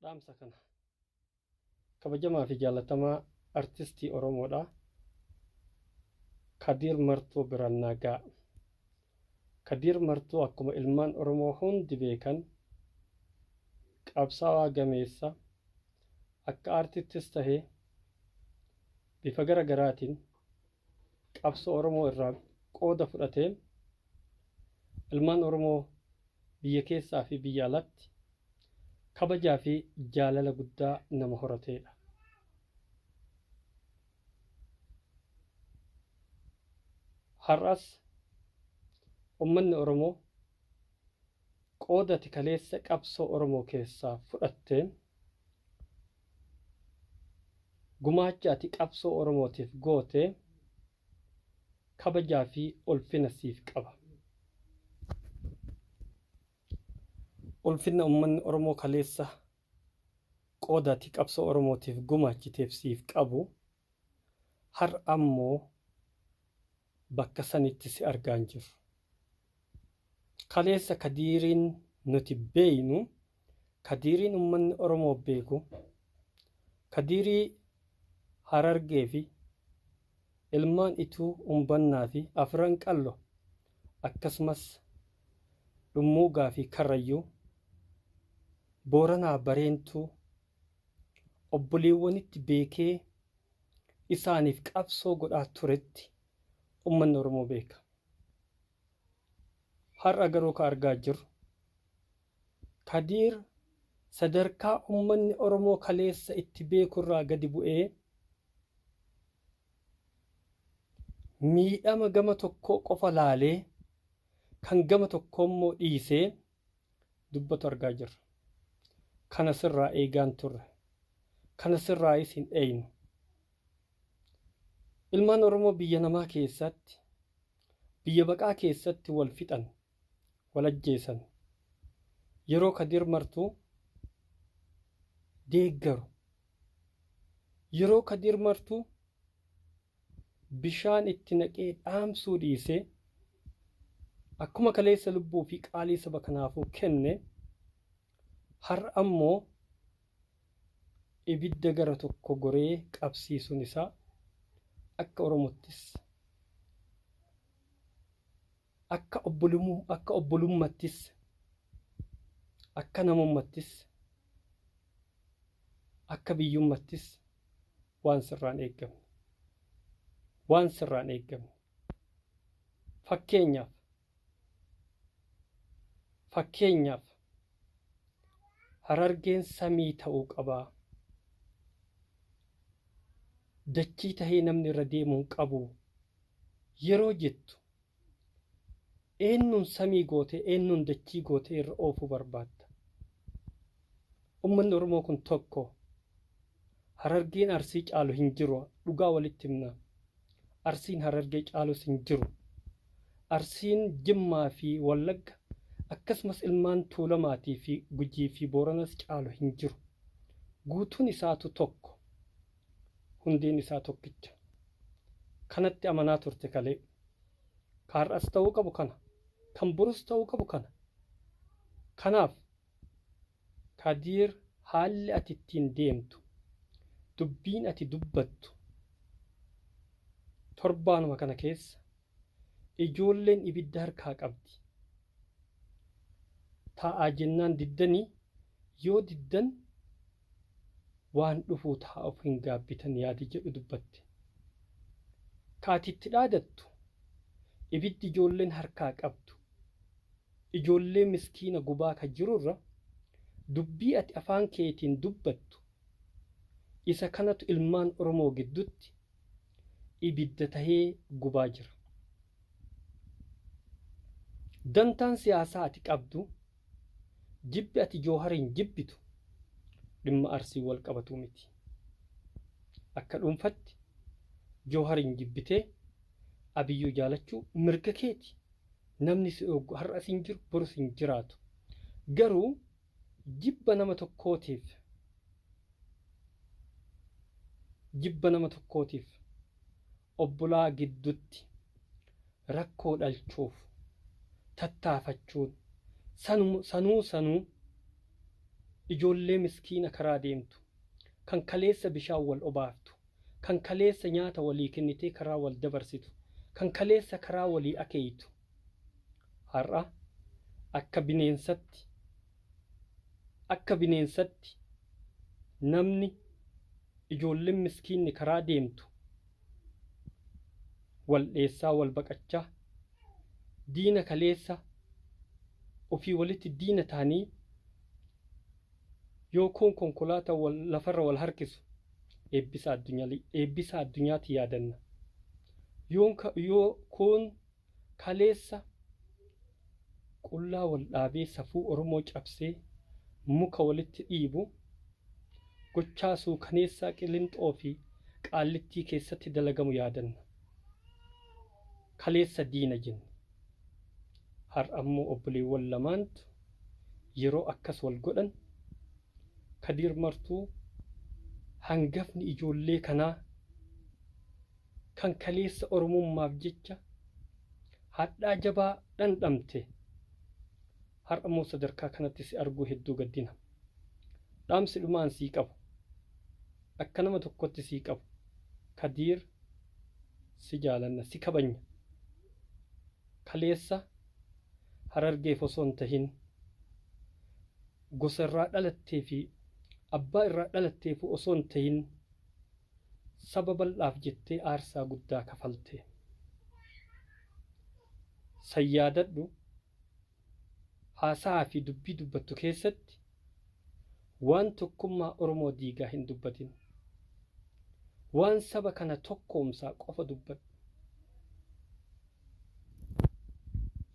dhaamsa kana kabajamaa fi jaallatamaa artistii Oromoodha. Kadiir Martuu biraan naa ga'a. Kadiir Martuu akkuma ilmaan Oromoo hundi beekan qabsaawaa gameessa akka aartittis tahe bifa gara garaatiin qabsoo Oromoo irraa qooda fudhateen ilmaan Oromoo biyya keessaa fi biyya alatti kabajaa fi jaalala guddaa nama horateedha. Har'as ummanni Oromoo Qooda ati kaleessa qabsoo Oromoo keessaa fudhatteen, gumaacha ati qabsoo Oromootiif gooteen kabajaa fi ulfina siif qaba. Ulfinna ummanni Oromoo kaleessa qooda ati qabsoo Oromootiif gumaachiteef siif qabu har'a immoo, bakka sanitti si argaa hin jirru. Kaleessa Kadiiriin nuti beeynu, Kadiiriin ummanni Oromoo beeku, Kadiirii Harargee fi ilmaan Ituu Umbannaa fi Afran Qallo akkasumas Dhummuugaa fi Karrayyuu, Booranaa Bareentuu obboleewwanitti beekee isaaniif qabsoo godhaa turetti ummanni Oromoo beeka. Har'a garuu ka argaa jirru Kadiir sadarkaa ummanni Oromoo kaleessa itti beeku irraa gadi bu'ee miidhama gama tokkoo qofa laalee kan gama tokkoo immoo dhiisee dubbatu argaa jirra. Kana sirraa eegaan turre. Kana sirraayis hin eeynu. Ilmaan Oromoo biyya namaa keessaatti, biyya baqaa keessatti wal fixan, wal ajjeesan. Yeroo Kadir Martuu deeggaru, yeroo Kadir Martuu bishaan itti naqee dhaamsuu dhiisee akkuma kaleessa lubbuu fi qaalii saba kanaafuu kenne har'a immoo ibidda gara tokko goree qabsiisuun isaa akka Oromottis Akka akka obbolummattis akka namummattis akka biyyummattis waan sirraan eeggamne waan sirraan eeggamne fakkeenyaaf fakkeenyaaf harargeen samii ta'uu qabaa dachii tahee namni irra deemuun qabu yeroo jettu Eennuun samii gootee eennuun dachii gootee irra oofuu barbaadda? Ummanni Oromoo kun tokko. Harargeen Arsii caalu hin jiru dhugaa walitti himnaa. Arsiin Harargee caalus hin jiru. Arsiin Jimmaa fi Wallagga akkasumas ilmaan Tuulamaatii fi Gujii fi Booranas caalu hin jiru. Guutuun isaatu tokko. Hundeen isaa tokkicha. Kanatti amanaa turte kalee. Ka har'as ta'uu qabu kana. Kan borus ta'uu qabu kana. Kanaaf, Kadiir haalli ati ittiin deemtu, dubbiin ati dubbattu torbaanuma kana keessa Ijoolleen ibidda harkaa qabdi. Taa'aa jennaan diddanii yoo diddan waan dhufuu ta'a of hin gaabbitan yaadi jedhu dubbatte. Ka ati itti dhaadattu ibiddi ijoolleen harkaa qabdu ijoollee miskiina gubaa ka jirurra dubbii ati afaan keetiin dubbattu isa kanatu ilmaan Oromoo giddutti ibidda tahee gubaa jira. Dantaan siyaasaa ati qabdu jibbi ati Joohariin jibbitu dhimma Arsiin wal qabatuu miti. Akka dhuunfatti Joohariin jibbitee Abiyyuu jaalachuu mirga keeti. Namni si dhooggu har'as hin jiru borus hin jiraatu. Garuu Jibba nama tokkootiif Jibba nama tokkootiif obbolaa giddutti rakkoo dhalchuuf tattaafachuun sanuma sanuu sanuu ijoollee miskiina karaa deemtu kan kaleessa bishaan wal obaaftu kan kaleessa nyaata walii kennitee karaa wal dabarsitu kan kaleessa karaa walii akeeytu Har'a akka bineensatti akka bineensatti namni ijoolleen miskiinni karaa deemtu wal dheessaa wal baqachaa diina kaleessa ofii walitti diina ta'anii yoo kuun konkolaata wal lafarra wal harkisu eebbisa addunyaa eebbisa addunyaatti yaadanna yoon ka- yoo kuun Kaleessa qullaa wal dhaabee safuu Oromoo cabsee muka walitti dhiibu, gochaa suukaneessaa Qilinxoo fi Qaallittii keessatti dalagamu yaadanna. Kaleessa diina jenne. Har'a immoo obboleewwan lamaantu yeroo akkas wal godhan, Kadiir Martuu hangafni ijoollee kanaa kan kaleessa Oromummaaf jecha hadhaa jabaa dhandhamte har'a immoo sadarkaa kanatti si arguu hedduu gaddina. Dhaamsi dhuma an sii qabu, akka nama tokkotti sii qabu, Kadiir si jaalanna, si kabajna. Kaleessa Harargeef osoo hin tahin gosa irraa dhalattee fi abbaa irraa dhalatteefuu osoo hin tahin Saba bal'aaf jettee aarsaa guddaa kafalte. San yaadadhu. Haasahaa fi dubbii dubbattu keessatti waan tokkummaa Oromoo diigaa hin dubbatin. Waan saba kana tokkoomsaa qofa dubbadhu.